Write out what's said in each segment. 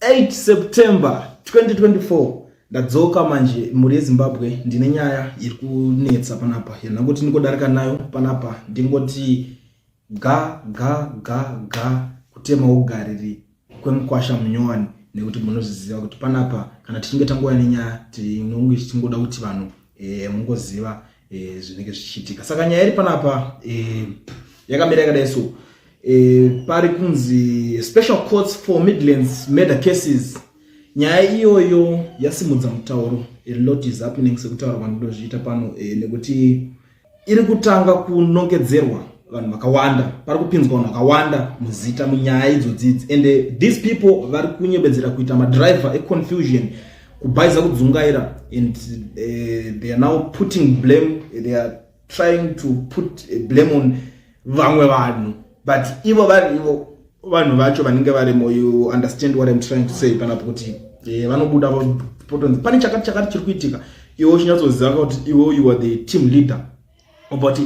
8 September 2024 ndadzoka manje mhuri yezimbabwe ndine nyaya iri kunetsa panapa yanangoti ndingodarika nayo panapa ndingoti ga ga ga ga kutema ugariri kwemukwasha munyowani nekuti munozviziva kuti panapa kana tichinge tangouya nenyaya tinonge tichingoda kuti vanhu e, mungoziva eh, zvinenge zvichiitika saka nyaya iri panapa eh, yakamira yakadai so eh, pari kunzi special courts for midlands murder cases nyaya iyoyo yasimudza mutauro a lot is happening sekutaura kwandinozviita pano eh, nekuti iri kutanga kunongedzerwa vanhu vakawanda pari kupinzwa vanhu vakawanda muzita munyaya idzodzidzi and eh, these people vari kunyebedzera kuita madriver econfusion kubhaiza kudzungaira and uh, they are now putting blame they are trying to put eh, blame on vamwe vanhu but ivo vari ivo vanhu vacho vanenge varimo you understand what im trying to say panapo kuti eh, vanobuda potonzi pane chakati chakati chiri kuitika iwe uchinyatsoziva kuti iwe you are the team leader But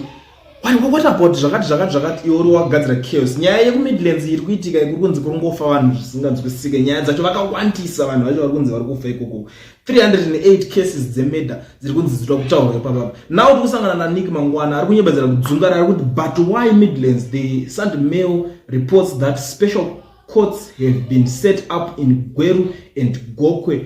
why what about zvakati zvakati zvakati iwe uri wagadzira chaos nyaya yekumidlands iri kuitika ikuri kunzi kuri ngofa vanhu zvisinganzwisike nyaya dzacho vakawandisa vanhu vacho vari kunzi vari kufa ikoko 308 cases dzemurder dziri kunzi dzitwa kutaurwa ipapapa now tiri kusangana nanik mangwana ari kunyebedzera kudzungara ari kuti but why midlands the sunday mail reports that special courts have been set up in gweru and gokwe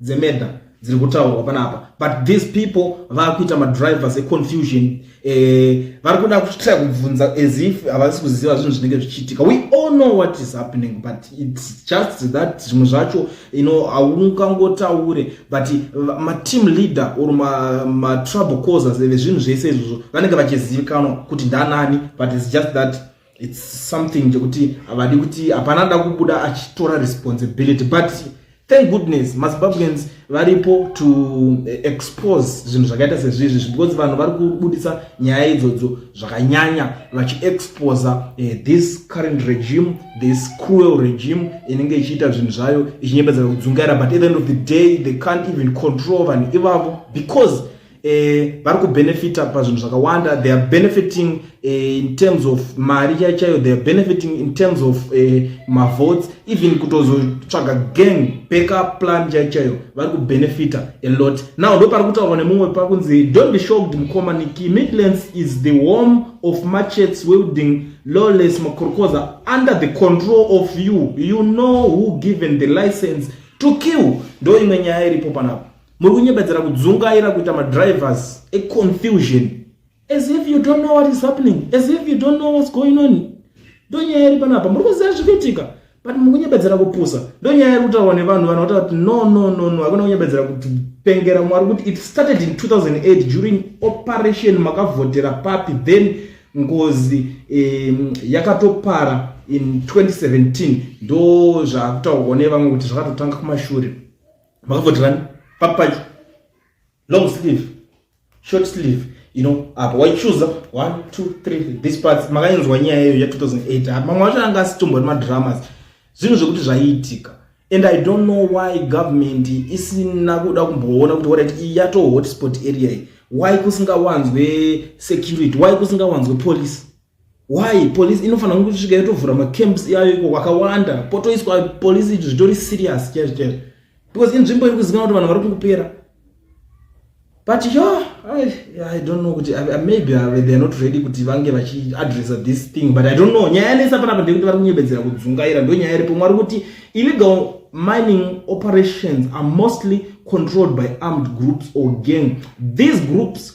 dzemenda dziri kutaurwa panapa but these people vakuita madrivers econfusion eh, vari kuda kutya kubvunza as if havasi kuziva zvinhu zvinenge zvichiitika we all know what is happening but its just that zvimwe zvacho ino haungangotaure but mateam leader or matrouble causers eve zvinhu zvese izvozvo vanenge vachizivikanwa kuti ndanani but its just that it's something chekuti havadi kuti hapana da kubuda achitora responsibility but thank goodness mazimbabweans varipo to eh, expose zvinhu zvakaita sezvizvi because vanhu vari kubudisa nyaya idzodzo zvakanyanya vachiexposa eh, this current regime this cruel regime inenge ichiita zvinhu zvayo ichinyebedzera kudzungaira but at the end of the day they can't even control vanhu ivavo because eh, vari kubenefita pazvinhu zvakawanda they are benefiting eh, in terms of mari chai chaiyo they are benefiting in terms of eh, mavotes even kutozotsvaga gang backup plan chai chaiyo vari kubenefita a lot now ndo pari kutaurwa nemumwe pakunzi don't be shocked mukoma niki midlands is the home of machets wielding lawless makorokoza under the control of you you know who given the license to kill ndo imwe nyaya iripo panapa muri kunyebedzera kudzungaira kuita madrivers econfusion as if you don't know what is happening as if you don't know what's going on ndonyaya iri panapa muri kuziva zviri kuitika but mukunyebedzera kupusa ndonyaya iri kutaurwa nevanhu vanhu vataura kuti no no no no hakuna kunyebedzera kupengera mwari kuti it started in 2008 during operation makavhotera papi then ngozi um, yakatopara in 2017 ndo zvakutaurwa nevamwe kuti zvakatotanga kumashure makavoterani papaji long sleeve short sleeve you know apa waichuza 1 2 3 this parts makainzwa nyaya yeyo ya 2008 apa mamwe wacho anga asitombori madramas zvinhu zvekuti zvaiitika and i don't know why government isina kuda kumboona kuti warit iyi yato hotspot area why kusingawanzwe security why kusingawanzwe police why police inofanira kunge kusvika yotovhura macamps iyayo iko kwakawanda potoiswa police izvi zvitori serious chaizvo chaizvo because inzvimbo iri kuzikanwa kuti vanhu vari kungopera but yo I, i don't know kuti maybe uh, they are not ready kuti vange vachiadressa this thing but i don't know nyaya yanesa panapa ndekuti vari kunyebedzera kudzungaira ndo nyaya iripo mwari kuti illegal mining operations are mostly controlled by armed groups or gang these groups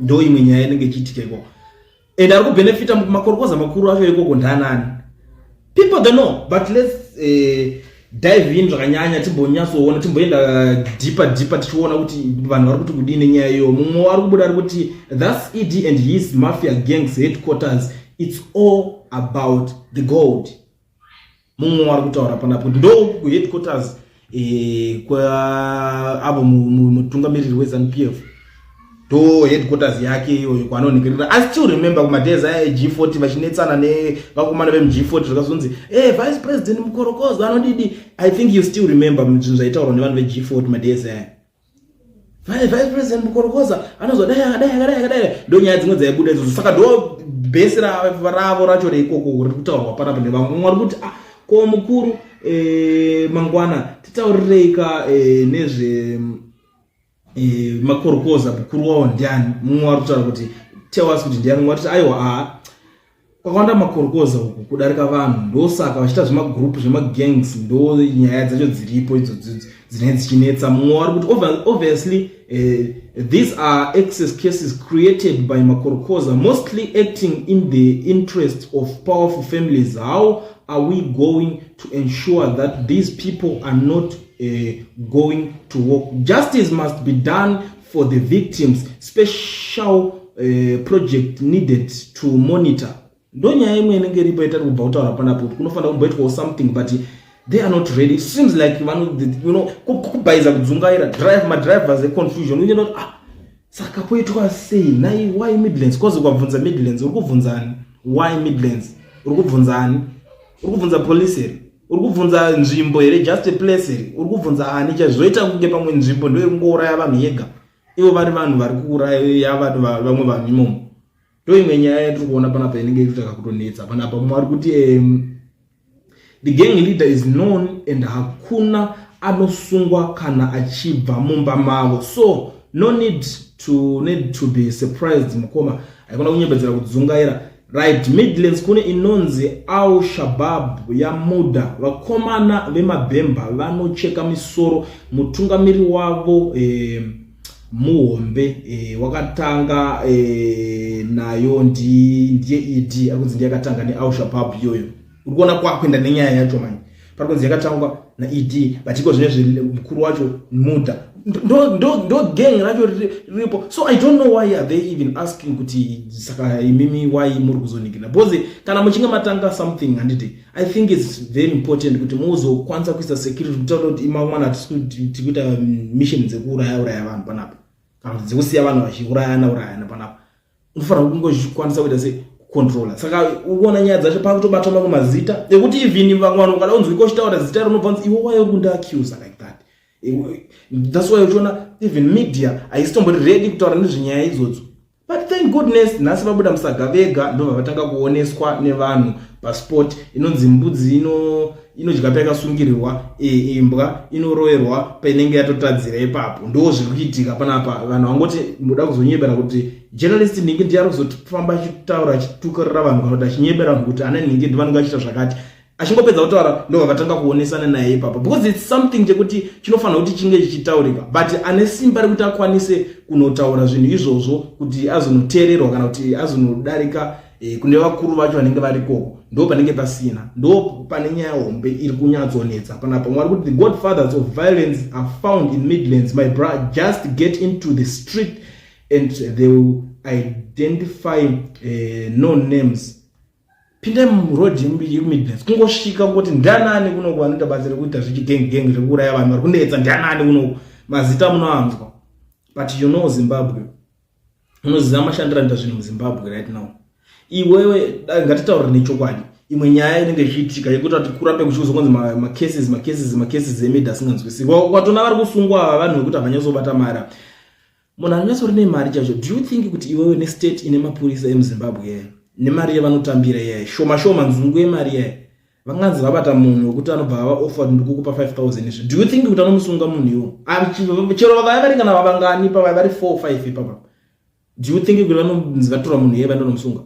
ndo imwe nyaya inenge ichiitika ikoko and ari kubenefita makorokoza makuru acho ikoko ndaanani people they know but let's uh, dive in zvakanyanya timbonyatsoona timboenda eh, deeper deeper tichiona kuti vanhu vari kuti kudii nenyaya iyo mumwe ari kubuda ari kuti thus ed and his mafia gangs headquarters it's all about the gold mumwe wari kutaura panapo ndouku kuheadquarters eh, kwaavo mutungamiriri wezanu p f ndo headquarters yake iyoyo kwaanonhekerera i still remember kumadays aya eg 40 vachinetsana nevakomana vemg 40 zvakazonzi hey, eh, vice president mukorokozo anodidi i think you still remember zvinhu zvaitaurwa nevanhu veg 40 madays aya Vai vice president Mukorokoza anozwa dai akadai akadai akadai ndonyaya dzimwe dzaibuda idzodzo saka ndo bhesi ravo racho reikoko riri kutaurwa panapa nevamwe mumwe ari kuti ah, ko mukuru eh, mangwana titaurireika eh, nezve eh, makorokoza mukuru wavo ndiani mumwe ari kutaura kuti tell us kuti ndiani mumwe ari kuti aiwa aa ah, kwakawanda makorokoza uku kudarika vanhu ndosaka vachiita zvemagroup zvemagangs ndo nyaya dzacho dziripo idzo dzinee dzichinetsa mumwe wari kuti obviously uh, these are excess cases created by makorokoza mostly acting in the interest of powerful families how are we going to ensure that these people are not uh, going to work justice must be done for the victims special uh, project needed to monitor ndonyaya imwe inenge iripo itari kubva kutaura panapo kuti kunofanira kumboitwawo something but they are not ready it seems like vano you know kubhaiza kudzungaira drive madrivers econfusion uye not ah saka poitwa sei nai why midlands cause ukabvunza midlands uri kubvunza ani why midlands uri kubvunza ani uri kubvunza police here uri kubvunza nzvimbo here just a place iri uri kubvunza ani chaizvo zvoita kunge pamwe nzvimbo ndo iri kungouraya vanhu yega ivo vari vanhu vari kuuraya vanhu vamwe vanhu imomo ndo imwe nyaya yatiri kuona panapa inenge ichitaka kutonetsa panapa mumwe ari kuti um, the gang leader is known and hakuna anosungwa kana achibva mumba mavo so no need to, need to be surprised mukoma haikona kunyebedzera kudzungaira Right, Midlands kune inonzi Al Shabab yamuda vakomana vemabhemba vanocheka misoro mutungamiri wavo eh, muhombe eh, wakatanga eh, nayo ndiye ED akunzi ndiye akatanga neAl Shabab iyoyo. uri kuona kwakuenda nenyaya yacho manje pari kunzi yakatangwa naed but iko zvine zvemukuru wacho muda ndo gang racho riripo so i don't know why are they even asking kuti saka imimi why muri kuzonikina because kana muchinge matanga something handiti i think its very important kuti muzokwanisa kuisa security kutaura kuti imamwana tikuita mission dzekuuraya uraya vanhu panapa kana kuti dzekusiya vanhu vachiurayana urayana panapa unofanira kungozvikwanisa kuita se controller saka uona nyaya dzacho pakutobatwa mamwe mazita ekuti even vamwe vanhu ukada kunzwa iko uchitaura zita rinobva nzi iwe wayo kunda accuser like that that's why uchiona even media haisitombori ready kutaura nezvenyaya idzodzo but thank goodness nhasi vabuda musaga vega ndobva vatanga kuoneswa nevanhu pasport inonzi mbudzi ino inodya payakasungirirwa e, imbwa inoroerwa painenge yatotadzira ipapo ndo zviri kuitika panapa vanhu vangoti muda kuzonyebera kuti journalist nhingi ndiye ari kuzofamba achitaura achitukarira vanhu kana kuti achinyebera vanhu kuti ana nhingi ndivanenge achiita zvakati achingopedza kutaura ndobva vatanga kuonesana naye ipapo because its something chekuti chinofanira kuti chinge chichitaurika but ane simba rekuti akwanise kunotaura zvinhu izvozvo kuti azonoteererwa kana kuti azonodarika e, kune vakuru vacho vanenge varikoko ndo panenge pasina ndo pane nyaya hombe iri kunyatsonetsa panapa mwari kuti the god fathers of violence are found in midlands my bra just get into the street and they will identify uh, no names pindai muroad yemidlands kungosvika kuti ndanani kunoku vanoita basa rekuita zvechigengi gengi zvekuuraya vanhu vari kunetsa ndanani kunoku mazita munoanzwa but you know zimbabwe unoziva mashandiro anoita zvinhu muzimbabwe right now iwewe ngatitaurire nechokwadi imwe nyaya inenge ichiitika yekuti ati kurambe kuchikuzokonzi macases macases macases emid asinganzwisiri kwatona vari kusungwa ava vanhu vekuti havanyatsobata mari munhu anonyatso rine mari chacho do you think kuti iwewe nestate ine mapurisa emuzimbabwe yeye nemari yevanotambira yeye shoma shoma nzungu yemari yeye vanganzi vabata munhu wekuti anobva ava offered ndikukupa 5000 izvi do you think kuti anomusunga munhu iwo ah, chero vavaya vari kana vavangani pavaya vari 4 or 5 ipapa do you think kuti vanonzi vatora munhu iye vandonomusunga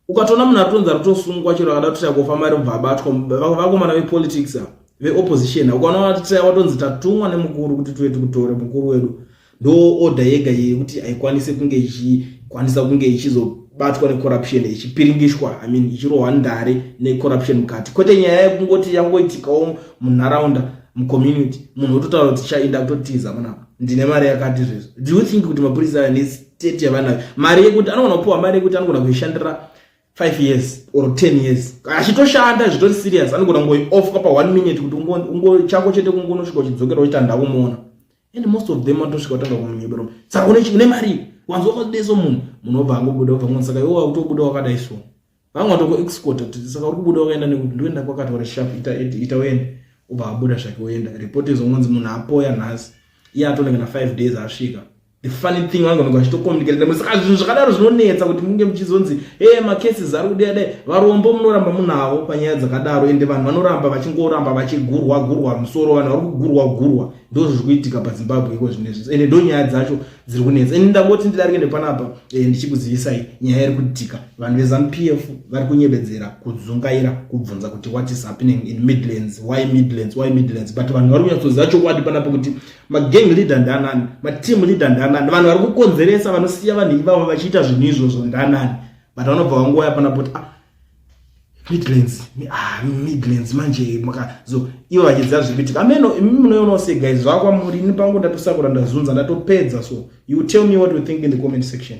ukatoona munhu atonzi atosungwa chero akada kuti chakufa mari ubva abatwa vakomana vepolitics veopposition ukaona watonzi tatumwa nemukuru kuti tuve tikutore mukuru wedu ndo order yega iye kuti haikwanise kunge ichikwanisa kunge ichizobatwa necorruption ichipiringishwa i mean ichirohwa ndare necorruption mukati kwete nyaya yekungoti yangoitikawo munharaunda mucommunity munhu ototaura kuti chainda kutotiza munapa ndine mari yakati zvezvo do you think kuti mapurisa aya nestate yavanayo mari yekuti anogona kupiwa mari yekuti anogona kuishandira 5 years or 10 years achitoshanda zvitori serious anogona kungoiofa pa 1 minute kuti ungo chako chete kungonosvika uchidzokera uchiti handakumuona and most of them atosvika kutanga kumunyebero saka une une mari wanzi wakadeso munhu munhu obva angobuda obva ngoni saka iwe wakutobuda wakadai so vamwe watoko export kuti saka uri kubuda wakaenda nekuti ndoenda kwakataura shap ita ita uende obva abuda zvake oenda report izongonzi munhu apoya nhasi iye atone kana five days asvika the funny thing vange vange vachitokomuniketa nemwe saka zvinhu zvakadaro zvinonetsa kuti munge muchizonzi e macases ari kudai dai varombo munoramba munavo panyaya dzakadaro ende vanhu vanoramba vachingoramba vachigurwa gurwa musoro vanhu vari kugurwa gurwa ndizvo zviri kuitika pazimbabwe iko zvine zvese ende ndonyaya dzacho dziri kunetsa ende ndangoti ndidarike nepanapa eh, ndichikuzivisai nyaya iri kuitika vanhu vezanu p f vari kunyebedzera kudzungaira kubvunza kuti what is happening in midlands why midlands why midlands but vanhu vari kunyatsoziva chokwadi panapa kuti magang leader ndanani mateam leader ndanani vanhu vari kukonzeresa vanosiya vanhu ivavo vachiita zvinhu izvozvo ndanani but vanobva vanguva yapanapa kuti ah, Midlands ah Midlands manje maka so iwo achidza zvipiti ameno imi munoona se guys zvakwa muri ni pangu ndatusakura ndazunza ndatopedza so you tell me what you think in the comment section